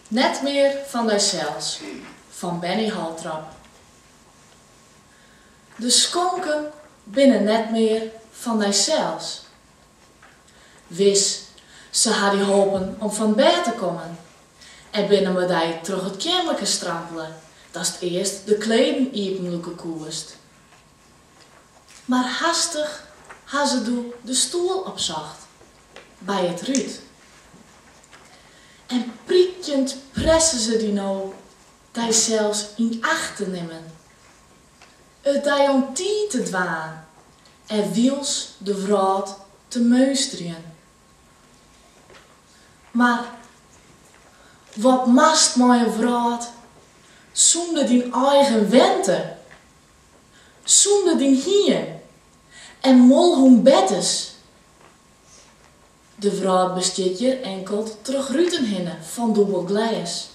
Net mear fan dysels fan Benny Holtrop. De skonken binne net mear fan dysels. Wis, se ha dy holpen om fan bêd te kommen en binne mei dy troch it keammerke strampele datst earst de kleden iepenlûke koest. Mar hastich ha se doe de stoel opsocht. by it rút. En prykjend presse se dy no dysels yn acht te nimmen, it dy oan tiid te dwaan en wyls de wrâld te meunsterjen. Mar wat moatst mei in wrâld sûnder dyn eigen wente, sûnder dyn hiem en molhûn Bettes De wrâld bestiet hjir inkeld troch ruten hinne fan dûbel glês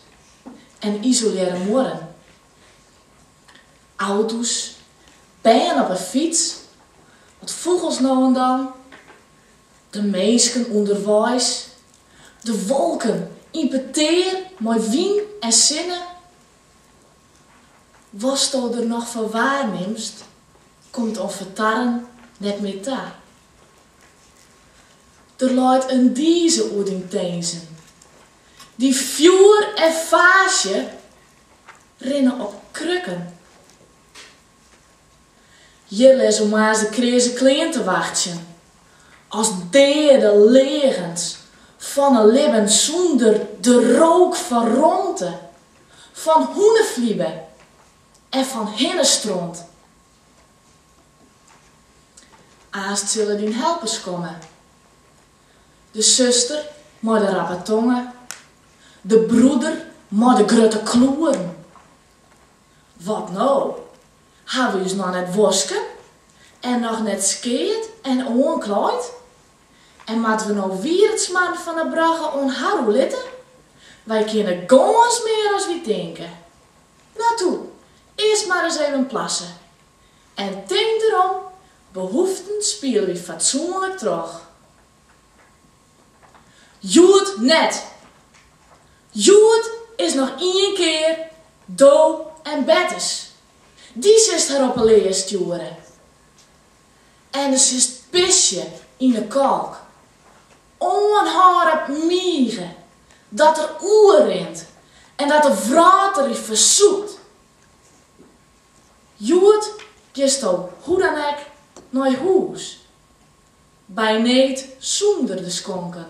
en isolearre muorren. Auto's, bern op 'e fyts, wat fûgels no en dan, de minsken ûnderweis, de wolken yn petear mei wyn en sinne. Watsto der noch fan waarnimst, komt oan fertarren net mear ta. Der leit in dize oer dyn tinzen, dyn fjoer en faasje rinne op krukken. Hjir lizze moarns de kreaze klean te wachtsjen, as deade leagens fan in libben sûnder de rook fan romte. Fan hûneflibe en fan hinnestront. Aanst sille dyn helpers komme, de suster mei de rappe tonge, de broeder mei de grutte kloeren. Wat no? Ha we ús noch net wosken en noch net skeard en oanklaaid? En moatte we no wier 't smarren fan 'e brogge oan har oerlitte? Wy kinne gâns mear as wy tinke. No toe, earst mar ris even plasse. En tink derom, behoeften spiele wy fatsoenlik troch. Hjoed net! Hjoed is noch ien kear do en Bettes. Dy silst har op 'e lea stjoere. en do silst pisje yn 'e kolk. Oanhâlde mige dat er oerrint en dat de wrâld der yn fersûpt. Hjoed kinsto hoe dan ek nei hûs, by need sûnder de skonken.